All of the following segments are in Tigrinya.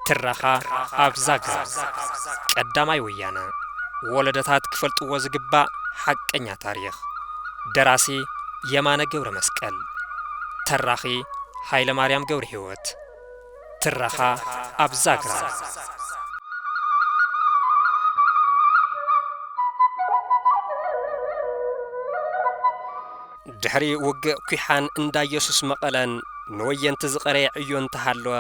ትረኻ ኣብ ዛግራ ቀዳማይ ወያነ ወለደታት ክፈልጥዎ ዝግባእ ሓቀኛ ታሪኽ ደራሲ የማነ ገብረ መስቀል ተራኺ ሃይለ ማርያም ገብረ ህይወት ትረኻ ኣብ ዛግራ። ድሕሪ ውግእ ኲሓን እንዳ ኢየሱስ መቐለን ንወየንቲ ዝቐረየ ዕዮ እንተሃለወ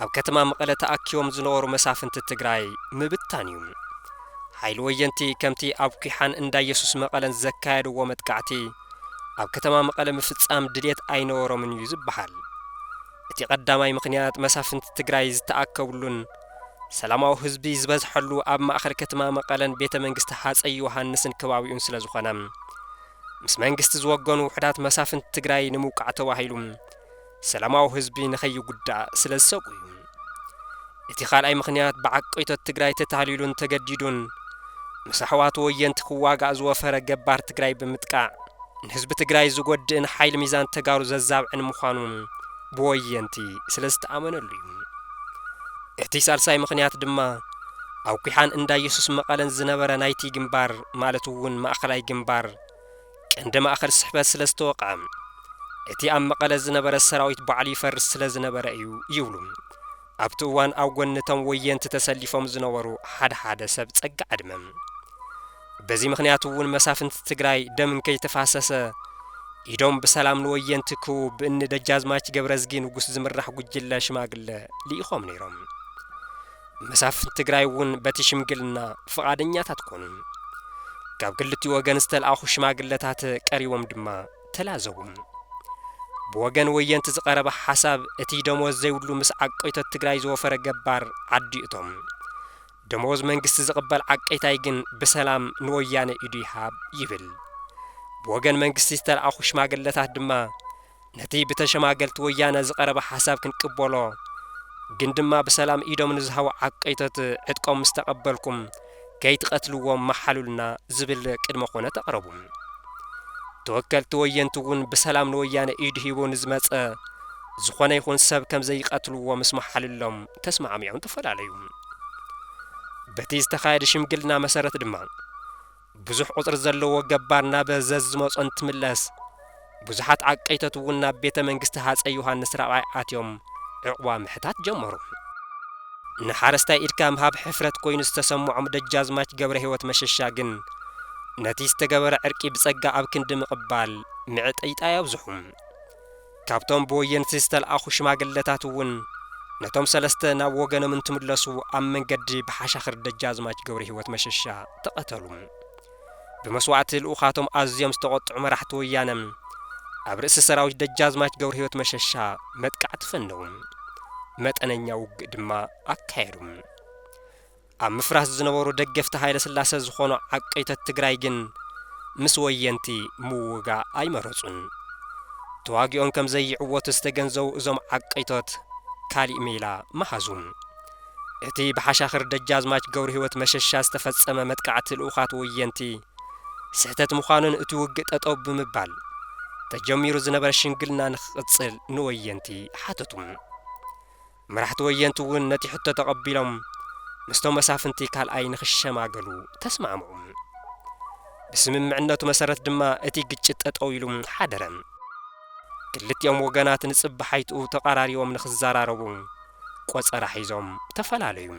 ኣብ ከተማ መቐለ ተኣኪቦም ዝነበሩ መሳፍንቲ ትግራይ ምብታን እዩ። ሓይሊ ወየንቲ ከምቲ ኣብ ኲሓን እንዳ ኢየሱስ መቐለን ዘካየድዎ መጥቃዕቲ ኣብ ከተማ መቐለ ምፍጻም ድሌት ኣይነበሮምን እዩ ዝበሃል። እቲ ቀዳማይ ምኽንያት መሳፍንቲ ትግራይ ዝተኣከብሉን ሰላማዊ ህዝቢ ዝበዝሐሉ ኣብ ማእኸል ከትማ መቐለን ቤተ መንግስቲ ሃፀይ ዮሃንስን ከባቢኡን ስለዝኾነ ምስ መንግስቲ ዝወገኑ ውሕዳት መሳፍንቲ ትግራይ ንምውቃዕ ተባሂሉ ሰላማዊ ህዝቢ ንከይጉዳእ ስለዝሰግኡ እዩ። እቲ ካልኣይ ምኽንያት ብዓቀይቶት ትግራይ ተታሊሉን ተገዲዱን ምስ ኣሕዋቱ ወየንቲ ክዋጋእ ዝወፈረ ገባር ትግራይ ብምጥቃዕ ንህዝቢ ትግራይ ዝጎድእን ሓይሊ ሚዛን ተጋሩ ዘዛብዕን ምዃኑ ብወየንቲ ስለ ዝተኣመነሉ እዩ። እቲ ሳልሳይ ምኽንያት ድማ ኣብ ኲሓን እንዳየሱስ መቐለን ዝነበረ ናይቲ ግንባር ማለት እውን ማእኸላይ ግንባር ቀንዲ ማእኸል ስሕበት ስለ ዝተወቕዐ እቲ ኣብ መቐለ ዝነበረ ሰራዊት ባዕሉ ይፈርስ ስለ ዝነበረ እዩ ይብሉ ኣብቲ እዋን ኣብ ጎኒ እቶም ወየንቲ ተሰሊፎም ዝነበሩ ሓደ ሓደ ሰብ ፀጋ ዕድመ። በዚ ምኽንያት እውን መሳፍንቲ ትግራይ ደም እንከይተፋሰሰ ኢዶም ብሰላም ንወየንቲ ክህቡ ብእኒ ደጃዝማች ገብረዝጊ ንጉስ ዝምራሕ ጉጅለ ሽማግለ ልኢኾም ነይሮም። መሳፍንቲ ትግራይ እውን በቲ ሽምግልና ፍቓደኛታት ኮኑ። ካብ ክልቲኡ ወገን ዝተልኣኹ ሽማግለታት ቀሪቦም ድማ ተላዘቡ። ብወገን ወየንቲ ዝቐረበ ሓሳብ እቲ ደሞዝ ዘይብሉ ምስ ዓቀይቶት ትግራይ ዝወፈረ ገባር ዓዲ እቶም ደሞዝ መንግስቲ ዝቕበል ዓቀይታይ ግን ብሰላም ንወያነ ኢዱ ይሃብ ይብል። ብወገን መንግስቲ ዝተልኣኹ ሽማግለታት ድማ ነቲ ብተሸማገልቲ ወያነ ዝቐረበ ሓሳብ ክንቅበሎ ግን ድማ ብሰላም ኢዶም ንዝሃቡ ዓቀይቶት ዕጥቆም ምስ ተቐበልኩም ከይትቐትልዎም መሓሉልና ዝብል ቅድመ ኩነት ኣቕረቡ። ተወከልቲ ወየንቲ እውን ብሰላም ንወያነ ኢዱ ሂቡ ንዝመጸ ዝኾነ ይኹን ሰብ ከም ዘይቐትልዎ ምስ መሓሉሎም ተስማዕሚዖም ተፈላለዩ። በቲ ዝተኻየደ ሽምግልና መሰረት ድማ ብዙሕ ቁጽሪ ዘለዎ ገባር ናብ ዘዝ ዝመጾ እንትምለስ፣ ብዙሓት ዓቀይቶት እውን ናብ ቤተ መንግስቲ ሃጸይ ዮሃንስ ራብዓይ ኣትዮም ዕቕባ ምሕታት ጀመሩ። ንሓረስታይ ኢድካ ምሃብ ሕፍረት ኮይኑ ዝተሰምዖም ደጃዝማች ገብረሂወት መሸሻ ግን፣ ነቲ ዝተገበረ ዕርቂ ብጸጋ ኣብ ክንዲ ምቕባል፣ ምዕጥይጣይ ኣብዝሑ። ካብቶም ብወየንቲ ዝተልኣኹ ሽማግለታት እውን ነቶም ሰለስተ ናብ ወገኖም እንትምለሱ ኣብ መንገዲ ብሓሻኽር ደጃዝማች ገብረሂወት መሸሻ ተቐተሉ። ብመስዋእቲ ልኡኻቶም ኣዝዮም ዝተቖጥዑ መራሕቲ ወያነ ኣብ ርእሲ ሰራዊት ደጃዝማች ገብረሂወት መሸሻ መጥቃዕቲ ፈነዉ። መጠነኛ ውግእ ድማ ኣካየዱ። ኣብ ምፍራስ ዝነበሩ ደገፍቲ ሃይለስላሰ ዝኾኑ ዓቀይቶት ትግራይ ግን ምስ ወየንቲ ምውጋእ ኣይመረፁን። ተዋጊኦም ከም ዘይዕወቱ ዝተገንዘቡ እዞም ዓቀይቶት ካሊእ ሜላ መሃዙ። እቲ ብሓሻኽር ደጃዝማች ገብረህይወት መሸሻ ዝተፈፀመ መጥቃዕቲ ልኡኻት ወየንቲ ስሕተት ምዃኑን እቲ ውግእ ጠጠው ብምባል ተጀሚሩ ዝነበረ ሽምግልና ንክቕፅል ንወየንቲ ሓተቱ። መራሕቲ ወየንቲ እውን ነቲ ሕቶ ተቐቢሎም ምስቶም መሳፍንቲ ካልኣይ ንኽሸማገሉ ተስማዕምዑ። ብስምምዕነቱ መሰረት ድማ እቲ ግጭት ጠጠው ኢሉ ሓደረ። ክልቲኦም ወገናት ንጽባሓይትኡ ተቐራሪቦም ንኽዘራረቡ ቆጸራ ሒዞም ተፈላለዩ።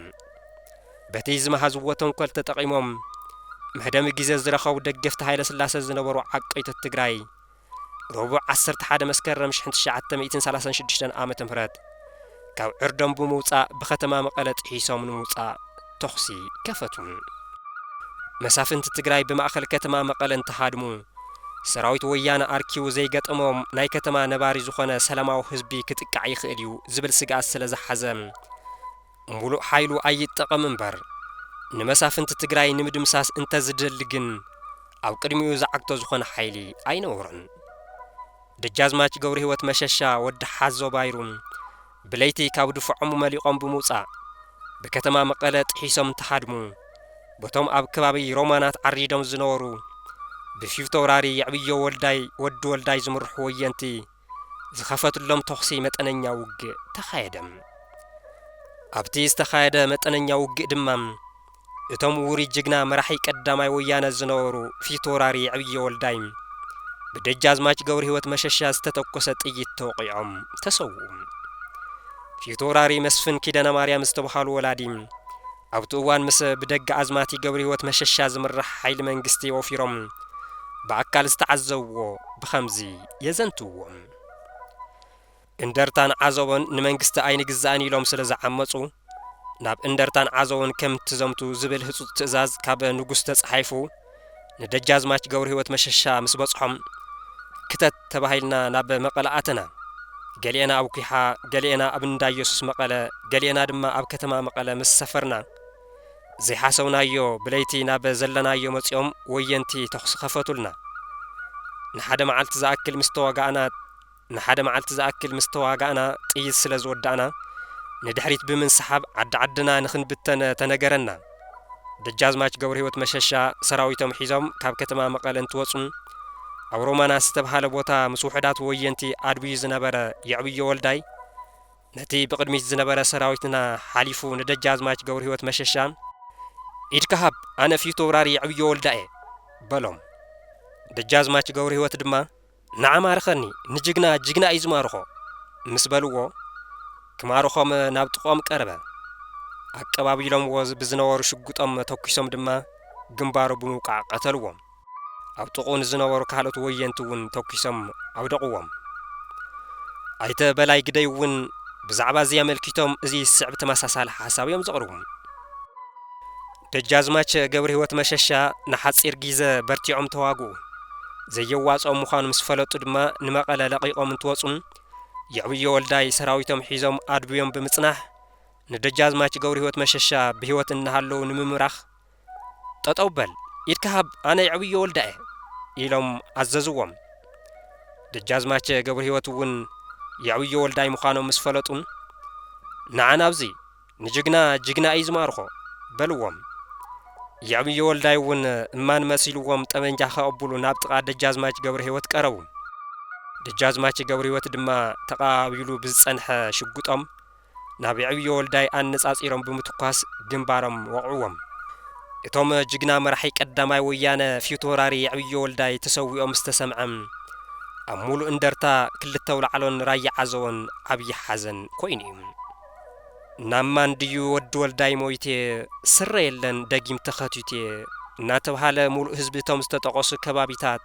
በቲ ዝመሃዝዎ ተንኮል ተጠቒሞም መህደሚ ግዜ ዝረኸቡ ደገፍቲ ሃይለስላሰ ዝነበሩ ዓቀይቶት ትግራይ ረቡዕ ዓሰርተ ሓደ መስከረም ሽሕን ትሽዓተ ሚእትን ሰላሳን ሽዱሽተን ዓመተ ምህረት ካብ ዕርዶም ብምውጻእ ብከተማ መቐለ ጥሒሶም ንምውጻእ ተኹሲ ከፈቱ። መሳፍንቲ ትግራይ ብማእኸል ከተማ መቐለ እንትሃድሙ ሰራዊት ወያነ ኣርኪቡ ዘይገጠሞም ናይ ከተማ ነባሪ ዝኾነ ሰላማዊ ህዝቢ ክጥቃዕ ይኽእል እዩ ዝብል ስግኣት ስለዝሓዘ ሙሉእ ሓይሉ ኣይጠቐም እምበር ንመሳፍንቲ ትግራይ ንምድምሳስ እንተዝደሊ ግን ኣብ ቅድሚኡ ዝዓግቶ ዝኾነ ሓይሊ ኣይነበሮን። ደጃዝማች ገብርሂወት መሸሻ ወዲ ሓዞ ባይሩ ብለይቲ ካብ ድፎዖሙ መሊቖም ብምውፃእ ብከተማ መቐለ ጥሒሶም እንትሃድሙ በቶም ኣብ ከባቢ ሮማናት ዓሪዶም ዝነበሩ ብፊውቶውራሪ የዕብዮ ወልዳይ ወዲ ወልዳይ ዝምርሑ ወየንቲ ዝኸፈትሎም ተኹሲ መጠነኛ ውግእ ተኻየደ። ኣብቲ ዝተኻየደ መጠነኛ ውግእ ድማ እቶም ውሩይ ጅግና መራሒ ቀዳማይ ወያነ ዝነበሩ ፊቶውራሪ ዕብየ ወልዳይ ብደጃዝማች ገብርሂወት መሸሻ ዝተተኮሰ ጥይት ተወቒዖም ተሰውኡ። ፊቶውራሪ መስፍን ኪዳነማርያም ዝተብሃሉ ወላዲ ኣብቲ እዋን ምስ ብደጋኣዝማቲ ገብርሂወት መሸሻ ዝምራሕ ሓይሊ መንግስቲ ወፊሮም ብኣካል ዝተዓዘብዎ ብኸምዚ የዘንትዉ። እንደርታን ዓዘቦን ንመንግስቲ ኣይንግዛእን ኢሎም ስለ ዝዓመጹ፣ ናብ እንደርታን ዓዘቦን ከም እትዘምቱ ዝብል ህጹጽ ትእዛዝ ካብ ንጉስ ተጻሒፉ ንደጃዝማች ገብርሂወት መሸሻ ምስ በጽሖም፣ ክተት ተባሂልና ናብ መቐለ ኣተና። ገሊኤና ኣብ ኲሓ፣ ገሊኤና ኣብ እንዳየሱስ መቐለ፣ ገሊኤና ድማ ኣብ ከተማ መቐለ ምስ ሰፈርና፣ ዘይሓሰብናዮ ብለይቲ ናብ ዘለናዮ መጺኦም ወየንቲ ተኹሲ ከፈቱልና። ንሓደ መዓልቲ ዝኣክል ምስ ተዋጋእና ንሓደ መዓልቲ ዝኣክል ምስ ተዋጋእና ጥይት ስለ ዝወዳእና ንድሕሪት ብምንስሓብ ዓዲ ዓድና ንኽንብተን ተነገረና። ደጃዝማች ገብርሂወት መሸሻ ሰራዊቶም ሒዞም ካብ ከተማ መቐለ እንትወጹ ኣብ ሮማና ዝተብሃለ ቦታ ምስ ውሑዳት ወየንቲ ኣድብዩ ዝነበረ የዕብዮ ወልዳይ፣ ነቲ ብቕድሚት ዝነበረ ሰራዊትና ሓሊፉ ንደጃዝማች ገብርሂወት መሸሻ ኢድካ ሃብ ኣነ ፊተውራሪ የዕብዮ ወልዳ'የ በሎም። ደጃዝማች ገብርሂወት ድማ ንዓ ማርኸኒ ንጅግና ጅግና እዩ ዝማርኾ ምስ በልዎ ክማርኾም ናብ ጥቕኦም ቀረበ። ኣቀባቢሎምዎ ብዝነበሩ ሽጉጦም ተኩሶም ድማ ግንባሩ ብምውቃዕ ቀተልዎ። ኣብ ጥቕኡ ንዝነበሩ ካልኦት ወየንቲ እውን ተኲሶም ኣውደቕዎም። ኣይተ በላይ ግደይ እውን ብዛዕባ እዚ ኣመልኪቶም እዚ ዝስዕብ ተመሳሳሊ ሓሳብ እዮም ዘቕርቡ። ደጃዝማች ገብርሂወት መሸሻ ንሓጺር ጊዘ በርቲዖም ተዋግኡ። ዘየዋጽኦም ምዃኑ ምስ ፈለጡ ድማ ንመቐለ ለቒቖም እንትወጹ የዕብዮ ወልዳይ ሰራዊቶም ሒዞም ኣድብዮም ብምጽናሕ ንደጃዝማች ገብርሂወት መሸሻ ብህይወት እናሃለዉ ንምምራኽ ጠጠው በል ኢድካ ሃብ ኣነ የዕብዮ ወልዳ'የ ኢሎም ኣዘዝዎም። ደጃዝማቸ ገብርሂወት'ውን የዕብዮ ወልዳይ ምዃኖም ምስ ፈለጡ ንዓ ናብዚ ንጅግና ጅግና እዩ ዝማርኾ በልዎም። የዕብዮ ወልዳይ'ውን እማን መሲልዎም ጠበንጃ ከቐብሉ ናብ ጥቓ ደጃዝማች ገብርሂወት ቀረቡ። ደጃዝማች ገብርሂወት ድማ ተቐባቢሉ ብዝጸንሐ ሽጉጦም ናብ የዕብዮ ወልዳይ ኣነጻጺሮም ብምትኳስ ግንባሮም ወቕዕዎም። እቶም ጅግና መራሒ ቀዳማይ ወያነ ፊውቶራሪ የዕብዮ ወልዳይ ተሰዊኦም ምስ ተሰምዐ ኣብ ሙሉእ እንደርታ፣ ክልተ ኣውላዕሎን ራያ ዓዘቦን ዓብዪ ሓዘን ኮይኑ እዩ። ናብ ማን ድዩ ወዲ ወልዳይ ሞይቴ ስረ የለን ደጊም ተኸቲቴ እናተብሃለ ሙሉእ ህዝቢ እቶም ዝተጠቐሱ ከባቢታት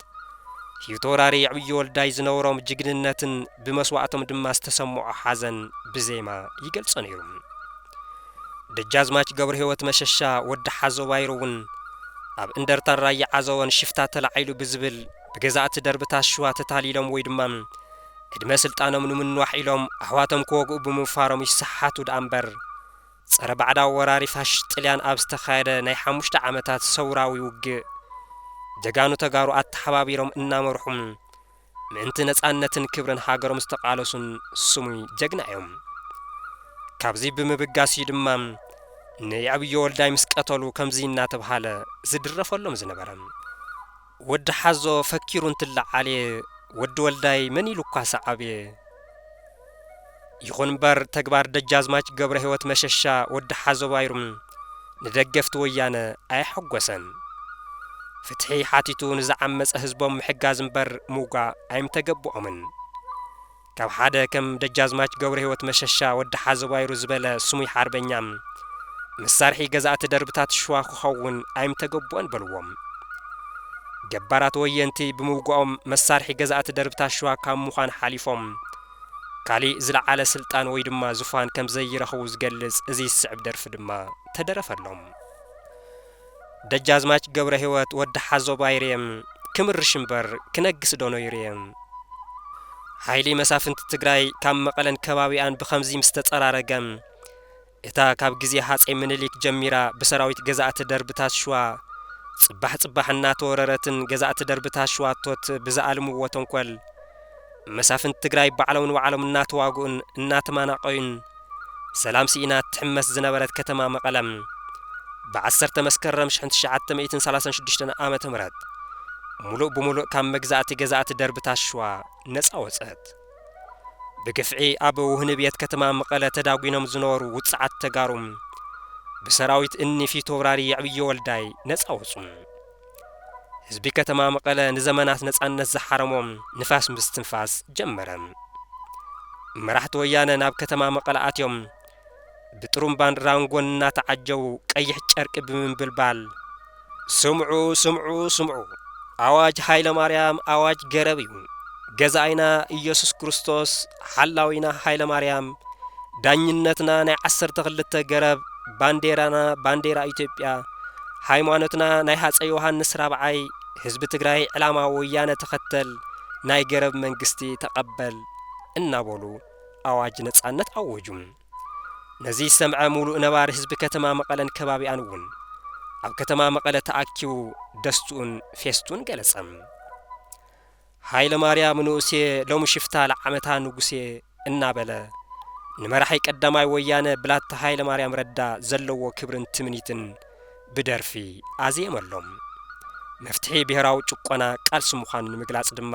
ፊውቶውራሪ የዕብዮ ወልዳይ ዝነበሮም ጅግንነትን ብመስዋእቶም ድማ ዝተሰምዖ ሓዘን ብዜማ ይገልጾ ነይሩ። ደጃዝማች ገብረህይወት መሸሻ ወዲ ሓዞ ባይሩ እውን ኣብ እንደርታን ራያ ዓዘቦን ሽፍታ ተላዒሉ ብዝብል ብገዛእቲ ደርብታት ሽዋ ተታሊሎም ወይ ድማ ዕድመ ስልጣኖም ንምንዋሕ ኢሎም ኣሕዋቶም ክወግኡ ብምውፋሮም ይሰሓሓቱ ደኣ እምበር ጸረ ባዕዳዊ ወራሪ ፋሽስት ጥልያን ኣብ ዝተኻየደ ናይ ሓሙሽተ ዓመታት ሰውራዊ ውግእ፣ ጀጋኑ ተጋሩ ኣተሓባቢሮም እናመርሑን ምእንቲ ነጻነትን ክብርን ሃገሮም ዝተቓለሱን ስሙይ ጀግና እዮም። ካብዚ ብምብጋስ እዩ ድማ ንየዕብዮ ወልዳይ ምስ ቀተሉ ከምዚ እናተብሃለ ዝድረፈሎም ዝነበረ። ወዲ ሓዞ ፈኪሩ እንትለዓልየ ወዲ ወልዳይ መን ኢሉኳ ሰዓብየ። ይኹን እምበር ተግባር ደጃዝማች ገብረሂወት መሸሻ፣ ወዲ ሓዞ ባይሩም፣ ንደገፍቲ ወያነ ኣየሐጎሰን። ፍትሒ ሓቲቱ ንዝዓመጸ ህዝቦም ምሕጋዝ እምበር ምውጋእ ኣይምተገብኦምን። ካብ ሓደ ከም ደጃዝማች ገብረሂወት መሸሻ፣ ወዲ ሓዘቧይሩ፣ ዝበለ ስሙይ ሓርበኛ፣ መሳርሒ ገዛእቲ ደርብታት ሽዋ ክኸውን ኣይምተገብኦን በልዎም። ገባራት ወየንቲ ብምውጋኦም መሳርሒ ገዛእቲ ደርብታት ሽዋ ካብ ምዃን ሓሊፎም ካሊእ ዝለዓለ ስልጣን ወይ ድማ ዙፋን ከምዘይረኽቡ ዝገልጽ እዚ ዝስዕብ ደርፊ ድማ ተደረፈሎም። ደጃዝማች ገብረሂወት ወዲ ሓዞ ባይሬ ክምርሽ እምበር ክነግስ ዶ ነይሩ'የ? ሓይሊ መሳፍንቲ ትግራይ ካብ መቐለን ከባቢኣን ብኸምዚ ምስ ተጸራረገ፣ እታ ካብ ግዜ ሃጸይ ምኒሊክ ጀሚራ ብሰራዊት ገዛእቲ ደርብታት ሽዋ ጽባሕ ጽባሕ እናተወረረትን ገዛእቲ ደርብታት ሽዋቶት ብዝኣልምዎ ተንኮል መሳፍንቲ ትግራይ ባዕሎም ንባዕሎም እናተዋግኡን እናተማናቐዩን ሰላም ስኢና እትሕመስ ዝነበረት ከተማ መቐለ፣ ብ ዓሰርተ መስከረም ሽሕን ትሽዓተ ሚእትን ሰላሳን ሽዱሽተን ዓመተ ምህረት ሙሉእ ብሙሉእ ካብ መግዛእቲ ገዛእቲ ደርብታት ሽዋ ነፃ ወፀት። ብግፍዒ ኣብ ውህንብየት ከተማ መቐለ ተዳጒኖም ዝነበሩ ውፅዓት ተጋሩ ብሰራዊት እኒ ፊተውራሪ የዕብዮ ወልዳይ ነፃ ወፁ። ህዝቢ ከተማ መቐለ ንዘመናት ነጻነት ዝሓረሞ ንፋስ ምስትንፋስ ጀመረ። መራሕቲ ወያነ ናብ ከተማ መቐለ ኣትዮም ብጥሩምባን ራንጎን እናተዓጀቡ ቀይሕ ጨርቂ ብምንብልባል ስምዑ ስምዑ ስምዑ ኣዋጅ ሃይለማርያም ኣዋጅ ገረብ እዩ ገዛኣይና ኢየሱስ ክርስቶስ ሓላዊና ሃይለማርያም ዳኝነትና ናይ ዓሰርተ ክልተ ገረብ ባንዴራና ባንዴራ ኢትዮጵያ ሃይማኖትና ናይ ሃፀ ዮሃንስ ራብዓይ ህዝቢ ትግራይ ዕላማ ወያነ ተኸተል ናይ ገረብ መንግስቲ ተቐበል እናበሉ ኣዋጅ ነፃነት ኣወጁ። ነዚ ዝሰምዐ ሙሉእ ነባሪ ህዝቢ ከተማ መቐለን ከባቢኣን እውን ኣብ ከተማ መቐለ ተኣኪቡ ደስትኡን ፌስቱን ገለፀ። ሃይለማርያም ንኡስየ ሎሚ ሽፍታ ለዓመታ ንጉስየ እናበለ ንመራሒ ቀዳማይ ወያነ ብላታ ሃይለማርያም ረዳ ዘለዎ ክብርን ትምኒትን ብደርፊ ኣዝየመሎም። መፍትሒ ብሄራዊ ጭቆና ቃልሲ ምዃኑ ንምግላጽ ድማ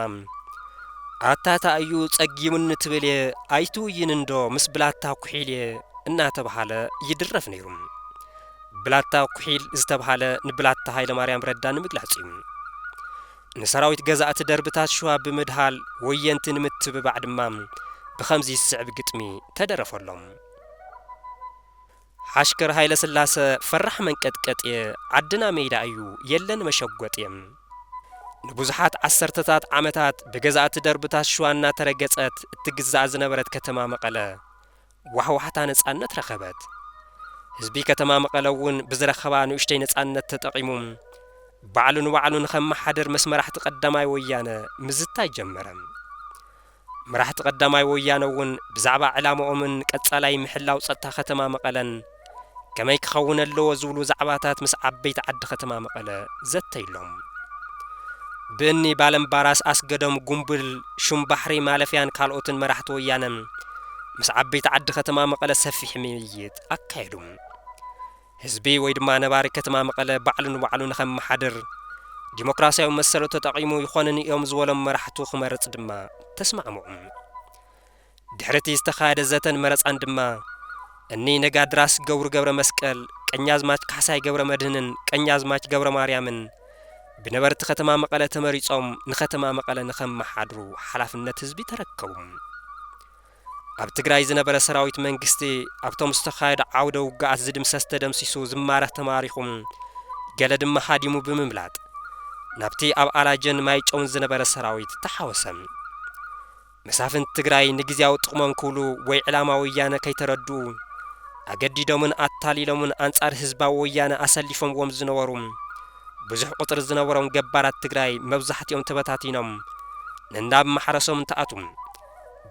ኣታ ታእዩ ጸጊሙኒ ትብልየ ኣይትውይንንዶ ምስ ብላታ ኩሒልየ እናተብሃለ ይድረፍ ነይሩ። ብላታ ኩሒል ዝተብሃለ ንብላታ ሃይለማርያም ረዳ ንምግላጽ እዩ። ንሰራዊት ገዛእቲ ደርብታት ሽዋ ብምድሃል ወየንቲ ንምትብባዕ ድማ ብኸምዚ ዝስዕብ ግጥሚ ተደረፈሎም። ሓሽከር ሃይለስላሰ ፈራሕ መንቀጥቀጥየ ዓድና ሜዳ እዩ የለን መሸጎጥየ። ንብዙሓት ዓሰርተታት ዓመታት ብገዛእቲ ደርብታት ሽዋ እናተረገጸት እትግዛእ ዝነበረት ከተማ መቐለ ዋሕዋሕታ ነጻነት ረኸበት። ህዝቢ ከተማ መቐለ'ውን ብዝረኸባ ንኡሽተይ ነጻነት ተጠቒሙ ባዕሉ ንባዕሉ ንኸመሓድር ምስ መራሕቲ ቀዳማይ ወያነ ምዝታይ ጀመረ። መራሕቲ ቀዳማይ ወያነ'ውን ብዛዕባ ዕላማኦምን ቀጻላይ ምሕላው ጸጥታ ከተማ መቐለን፣ ከመይ ክኸውን ኣለዎ ዝብሉ ዛዕባታት ምስ ዓበይቲ ዓዲ ከተማ መቐለ ዘተይሎም። ብእኒ ባለምባራስ ኣስገዶም፣ ጉምብል፣ ሹም ባሕሪ ማለፍያን ካልኦትን መራሕቲ ወያነ ምስ ዓበይቲ ዓዲ ከተማ መቐለ ሰፊሕ ምይይጥ ኣካየዱ። ህዝቢ ወይ ድማ ነባሪ ከተማ መቐለ ባዕሉ ንባዕሉ ንኸመሓድር ዲሞክራሲያዊ መሰሉ ተጠቒሙ ይኾንኒ እዮም ዝበሎም መራሕቱ ክመርፅ ድማ ተስማዕምዑ። ድሕሪ'ቲ ዝተኻየደ ዘተን መረጻን ድማ፣ እኒ ነጋድራስ ገብሩ ገብረመስቀል፣ ቀኛዝማች ካሕሳይ ገብረመድህንን ቀኛዝማች ገብረማርያምን ብነበርቲ ከተማ መቐለ ተመሪጾም ንከተማ መቐለ ንኸመሓድሩ ሓላፍነት ህዝቢ ተረከቡ። ኣብ ትግራይ ዝነበረ ሰራዊት መንግስቲ ኣብቶም ዝተኻየዱ ዓውደ ውግኣት ዝድምሰስ ተደምሲሱ ዝማረኽ ተማሪኹ ገለ ድማ ሃዲሙ ብምምላጥ ናብቲ ኣብ ኣላጀን ማይጨውን ዝነበረ ሰራዊት ተሓወሰ። መሳፍንቲ ትግራይ ንግዝያዊ ጥቕሞም ክብሉ ወይ ዕላማ ወያነ ከይተረድኡ ኣገዲዶምን ኣታሊሎምን ኣንጻር ህዝባዊ ወያነ ኣሰሊፎምዎም ዝነበሩ ብዙሕ ቁጽሪ ዝነበሮም ገባራት ትግራይ መብዛሕቲኦም ተበታቲኖም ነናብ ማሕረሶም እንትኣትዉ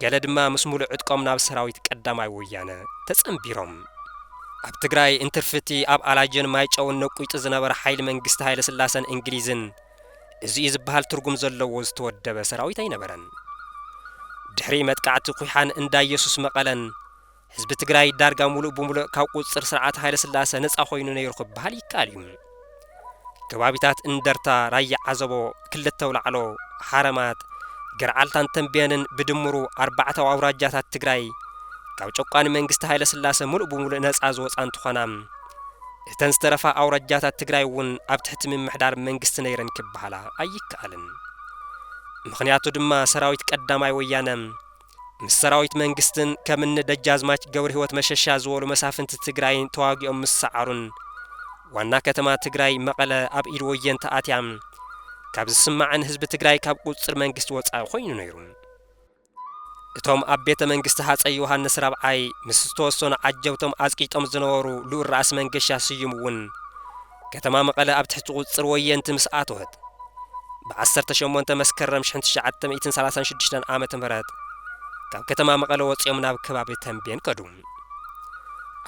ገለ ድማ ምስ ሙሉእ ዕጥቆም ናብ ሰራዊት ቀዳማይ ወያነ ተጸንቢሮም ኣብ ትግራይ እንትርፊ እቲ ኣብ ኣላጀን ማይጨውን ነቊይጡ ዝነበረ ሓይሊ መንግስቲ ሃይለስላሰን እንግሊዝን እዚ'ዩ ዝበሃል ትርጉም ዘለዎ ዝተወደበ ሰራዊት ኣይነበረን። ድሕሪ መጥቃዕቲ ኩሓን እንዳ ኢየሱስ መቐለን ህዝቢ ትግራይ ዳርጋ ሙሉእ ብሙሉእ ካብ ቁፅፅር ስርዓት ሃይለስላሰ ነፃ ኮይኑ ነይሩ ክበሃል ይከኣል እዩ። ከባቢታት እንደርታ፣ ራያ ዓዘቦ፣ ክልተ ኣውላዕሎ፣ ሓረማጥ፣ ገርዓልታን ተምቤንን ብድምሩ ኣርባዕተ ኣውራጃታት ትግራይ ካብ ጨቋኒ መንግስቲ ሃይለስላሰ ሙሉእ ብሙሉእ ነፃ ዝወፅኣ እንትኾና፣ እተን ዝተረፋ ኣውራጃታት ትግራይ እውን ኣብ ትሕቲ ምምሕዳር መንግስቲ ነይረን ክበሃላ ኣይከኣልን። ምኽንያቱ ድማ ሰራዊት ቀዳማይ ወያነ ምስ ሰራዊት መንግስትን ከም እኒ ደጃዝማች ገብርህይወት መሸሻ ዝበሉ መሳፍንቲ ትግራይን ተዋጊኦም ምስ ሰዓሩን ዋና ከተማ ትግራይ መቐለ ኣብ ኢድ ወየንቲ ኣትያ ካብ ዝስማዕን ህዝቢ ትግራይ ካብ ቁፅፅር መንግስቲ ወፃኢ ኮይኑ ነይሩ። እቶም ኣብ ቤተ መንግስቲ ሃጸይ ዮሃንስ ራብዓይ ምስ ዝተወሰኑ ዓጀብቶም ኣጽቂጦም ዝነበሩ ልኡል ራእሲ መንገሻ ስዩም እውን ከተማ መቐለ ኣብ ትሕቲ ቁጽጽር ወየንቲ ምስ ኣተወት ብ ዓሰርተ ሸሞንተ መስከረም ሽሕን ትሽዓተ ሚእትን ሰላሳን ሽዱሽተን ዓመተ ምህረት ካብ ከተማ መቐለ ወጺኦም ናብ ከባቢ ተምቤን ከዱ።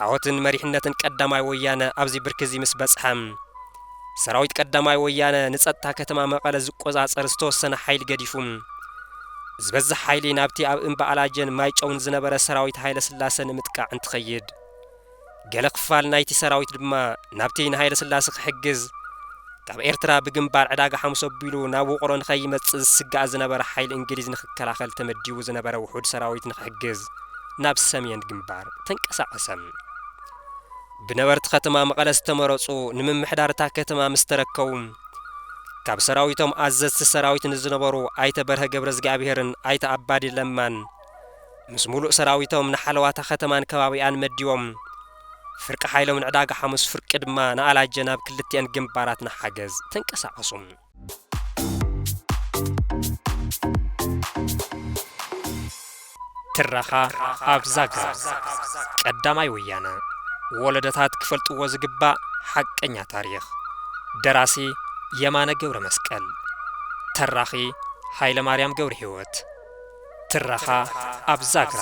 ዓወትን መሪሕነትን ቀዳማይ ወያነ ኣብዚ ብርኪ እዚ ምስ በጽሐ ሰራዊት ቀዳማይ ወያነ ንጸጥታ ከተማ መቐለ ዝቆጻጸር ዝተወሰነ ሓይሊ ገዲፉ ዝበዝሕ ሓይሊ ናብቲ ኣብ እምባ ኣላጀን ማይጨውን ዝነበረ ሰራዊት ሃይለስላሰ ንምጥቃዕ እንትኸይድ ገለ ክፋል ናይቲ ሰራዊት ድማ ናብቲ ንሃይለስላሰ ክሕግዝ ካብ ኤርትራ ብግንባር ዕዳጋ ሓሙስ ኣቢሉ ናብ ውቕሮ ንኸይመጽእ ዝስጋእ ዝነበረ ሓይሊ እንግሊዝ ንኽከላኸል ተመዲቡ ዝነበረ ውሑድ ሰራዊት ንኽሕግዝ ናብ ሰምየን ግንባር ተንቀሳቐሰ። ብነበርቲ ከተማ መቐለ ዝተመረፁ ንምምሕዳር እታ ከተማ ምስ ተረከቡ ካብ ሰራዊቶም ኣዘዝቲ ሰራዊት ንዝነበሩ ኣይተ በርሀ ገብረዝግኣብሄርን ኣይተ ኣባዲ ለማን ምስ ሙሉእ ሰራዊቶም ንሓለዋ እታ ከተማን ከባቢኣን መዲቦም ፍርቂ ሓይሎም ንዕዳጋ ሓሙስ ፍርቂ ድማ ንኣላጀ ናብ ክልቲኤን ግንባራት ንሓገዝ ተንቀሳቐሱ። ትረኻ ኣብ ዛግራ ቀዳማይ ወያነ ወለደታት ክፈልጥዎ ዝግባእ ሓቀኛ ታሪኽ ደራሲ የማነ ገብረ መስቀል ተራኺ ሃይለ ማርያም ገብረ ህይወት ትረኻ ኣብ ዛግራ